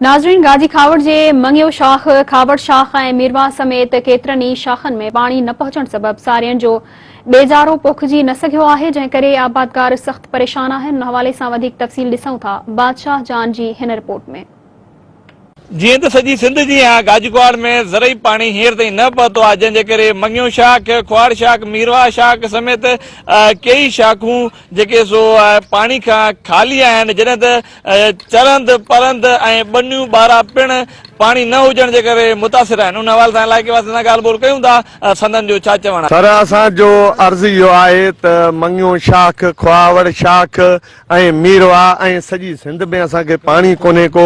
ناظرين گاجي کاوڙ جي مڱيو شاخ، کاوڙ شاخ ۽ ميرواهه سميت ڪيترن ئي شاخن ۾ پاڻي نه پهچڻ سبب سارين جو ٻيجارو پوکجي نه سگهيو آهي جنهن ڪري آبادگار سخت پريشان آهن ان حوالي سان وڌيڪ تفصيل ڏسون ٿا بادشاهه جان جي هن رپورٽ ۾. جيئن ته سڄي سنڌ جيان گاجي کوهاڙ ۾ زرعي پاڻي هينئر تائين نه پهتو آهي جنهن جي ڪري مڱيو شاخ، کوهاڙ شاخ، ميرواهه شاخ سميت ڪيئي شاخون جيڪي سو پاڻي کان خالي آهن جڏهن ته چرند، پرند ۽ ٻنيون ٻارا پڻ پاڻي نه هجڻ جي ڪري متاثر آهن، ان حوالي سان علائقي واسين سان ڳالهه ٻولهه ڪيون ٿا ته سندن جو ڇا چوڻ آهي. سر اسان جو عرض اهو آهي ته مڱيون شاخ، کهاوڙ شاخ ۽ ميرواهه ۽ سڄي سنڌ ۾ اسان کي پاڻي ڪونهي ڪو،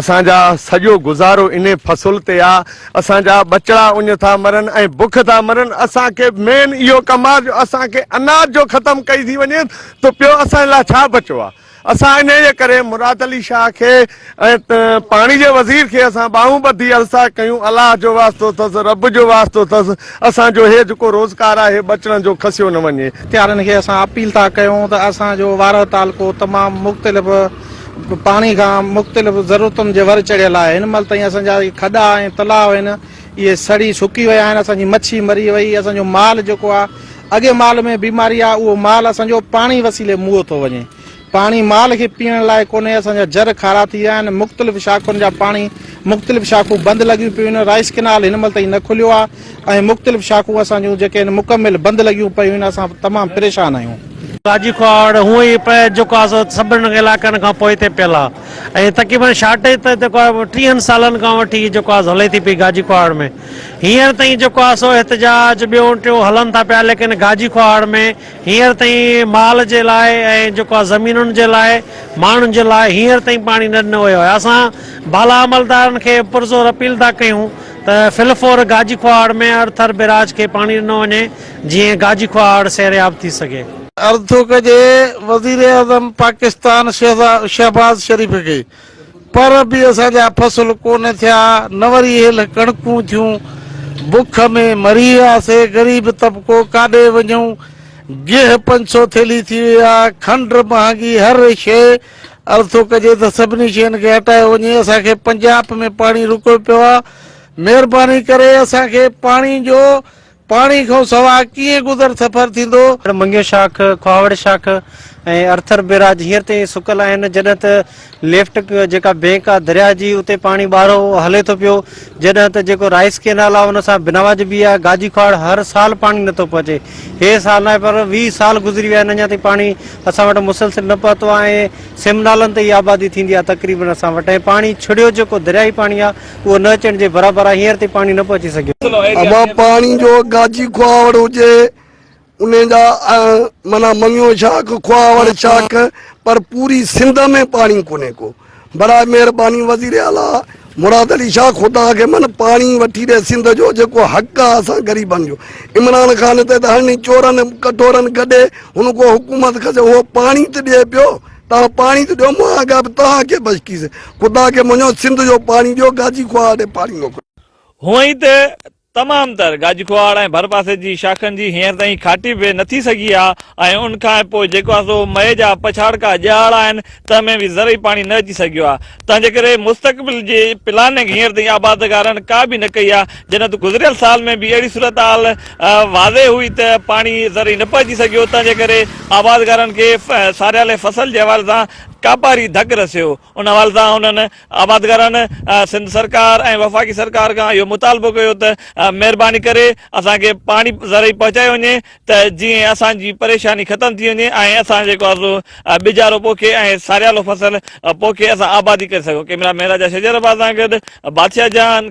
اسان جا سڄو گذارو انهي فصل تي آ، اسان جا ٻچڙا اڃ ٿا مرن ۽ بک ٿا مرن، اسان کي مين اهو ڪم آ جو اسان کي اناج جو ختم ڪئي ٿي وڃي ته پيو اسان لاء ڇا بچو آ. اسان انهيء جي ڪري مراد علي شاهه کي ۽ پاڻي جي وزير کي اسان ٻانهون ٻڌي الساء ڪيون، الله جو واسطو اٿس، رب جو واسطو اٿس، اسان جو هي جيڪو روزگار آهي ٻچڙن جو کسيو نه وڃي. اختيارين کي اسان اپيل ٿا ڪيون ته اسان جو وارهه تعلقو تمام مختلف پاڻي کان مختلف ضرورتن جي ور چڙهيل آهي، هن مهل تائين اسان جا کڏا ۽ تلاء آهن، اهي سڙي سڪي ويا آهن اسان جي مڇي مري وئي اسان جو مال جيڪو آ اڳي مال ۾ بيماري آ اهو مال اسان جو پاڻي وسيلي موئي ٿو وڃي پاڻي مال کي پيئڻ لاء ڪونهي اسان جا جر کارا ٿي ويا آهن مختلف شاخن جا پاڻي مختلف شاخون بند لڳيون پيون آهن رائس ڪينال هن مهل تائين نه کليو آ ۽ مختلف شاخون اسان جون جيڪي آهن مڪمل بند لڳيون پيون آهن اسان تمام پريشان آهيون راڄي کهاڙ هونئن ئي پئي جيڪو آ سو سڀني علائقن کان پوئتي پيل آ ۽ تقريبن شارٽيج ته جيڪو آهي ٽيهن سالن کان وٺي هي جيڪو آهي هلي ٿي پئي گاجي کوهاڙ ۾ هينئر تائين جيڪو آهي سو احتجاج ٻيو ٽيون هلن ٿا پيا ليڪن گاجي کوهاڙ ۾ هينئر تائين مال جي لاء ۽ جيڪو آهي زمينن جي لاء ماڻهن جي لاء هينئر تائين پاڻي نه ڏنو ويو آهي اسان بالا عملدارن کي پرزور اپيل ٿا ڪيون ته فلفور گاجي کوهاڙ ۾ ارٿر بيراج کي پاڻي ڏنو وڃي جيئن گاجي ڪهاڙ سيرياب ٿي سگهي. عرض ٿو ڪجي وزيراعظم پاڪستان شهباز شريف کي پر به اسان جا فصل ڪونه ٿيا نه وري هيل ڪڻڪون ٿيون بک ۾ مري وياسي غريب طبقو ڪاڏي وڃون گيهه پنج سو ٿيلي ٿي وئي آ کنڊ مهانگي هر شئي عرض ٿو ڪجي ته سڀني شين کي هٽايو وڃي اسان کي پنجاپ ۾ پاڻي رڪيو پيو آ مهرباني ڪري اسان کي پاڻي جو پاڻي کان سواء ڪيئن گذر سفر ٿيندو؟ منگيو شاخ، کهاوڙ شاخ ۽ ارٿر بيراج هينئر تائين ئي سڪل آهن، جڏهن ته ليفٽ جيڪا بئنڪ آ درياهه جي اتي پاڻي ٻاهرو هلي ٿو پيو، جڏهن ته جيڪو رائيس ڪينال آ ان سان بنواج بي آ گاجي کهاڙ هر سال پاڻي نه ٿو پهچي، هي سال ناهي پر ويهه سال گذري ويا آهن اڃا تائين پاڻي اسان وٽ مسلسل نه پهتو آ ۽ سيم نالن تي ئي آبادي ٿيندي آ تقريبن اسان وٽ ۽ پاڻي ڇڙيو جيڪو درياهي پاڻي آ اهو نه اچڻ جي برابر آهي، هينئر تائين پاڻي نه پهچي سگهيو. اما پاڻي جو گاجي کهاوڙ هجي انهي جا معنيٰ مڱيو شاخ، کهاوڙ شاخ پر پوري سنڌ ۾ پاڻي ڪونهي ڪو. برائي مهرباني وزير اعليٰ مراد علي شاهه خدا کي من پاڻي وٺي ڏي سنڌ جو جيڪو حق آهي اسان غريبن جو. عمران خان تي ته هرڻي چورن ڪٽورن گڏي هن ڪو حڪومت کسي اهو پاڻي ته ڏئي پيو. توهان پاڻي ته ڏيو مان اڳيان به توهان کي بشڪيس خدا کي مڃو سنڌ جو پاڻي ڏيو گاجي کوهاڙ ڏي پاڻي موڪليو. هونء ئي ته تمام تر گاجي کوهاڙ ۽ ڀرپاسي جي شاخن جي هينئر تائين کاٽي به نه ٿي سگهي آ ۽ ان کان پوء جيڪو آ سو مئي جا پڇاڙڪا ڄاڙ آهن تنهن ۾ به ذري پاڻي نه اچي سگهيو آ تنهنجي ڪري مستقبل جي پلاننگ هينئر تائين آبادگارن ڪا به نه ڪئي آهي، جڏهن ته گذريل سال ۾ به اهڙي صورتحال واضح هئي ته پاڻي ذري نه پهچي سگهيو، تنهنجي ڪري آبادگارن کي ساريالي فصل جي حوالي سان ڪاپاري ڌڪ رسيو، ان حوالي سان هنن آبادگارن سنڌ سرڪار ۽ وفاقي سرڪار کان اهو مطالبو ڪيو ته مهرباني ڪري اسان کي پاڻي ذري پهچايو وڃي، ته جيئن اسان جي پريشاني ختم ٿي وڃي ۽ اسان جيڪو آهي سو ٻجارو پوکي ۽ ساريالو فصل پوکي اسان آبادي ڪري سگهون ڪيمرا مين راجا شجر عباس سان گڏ بادشاهه جهان.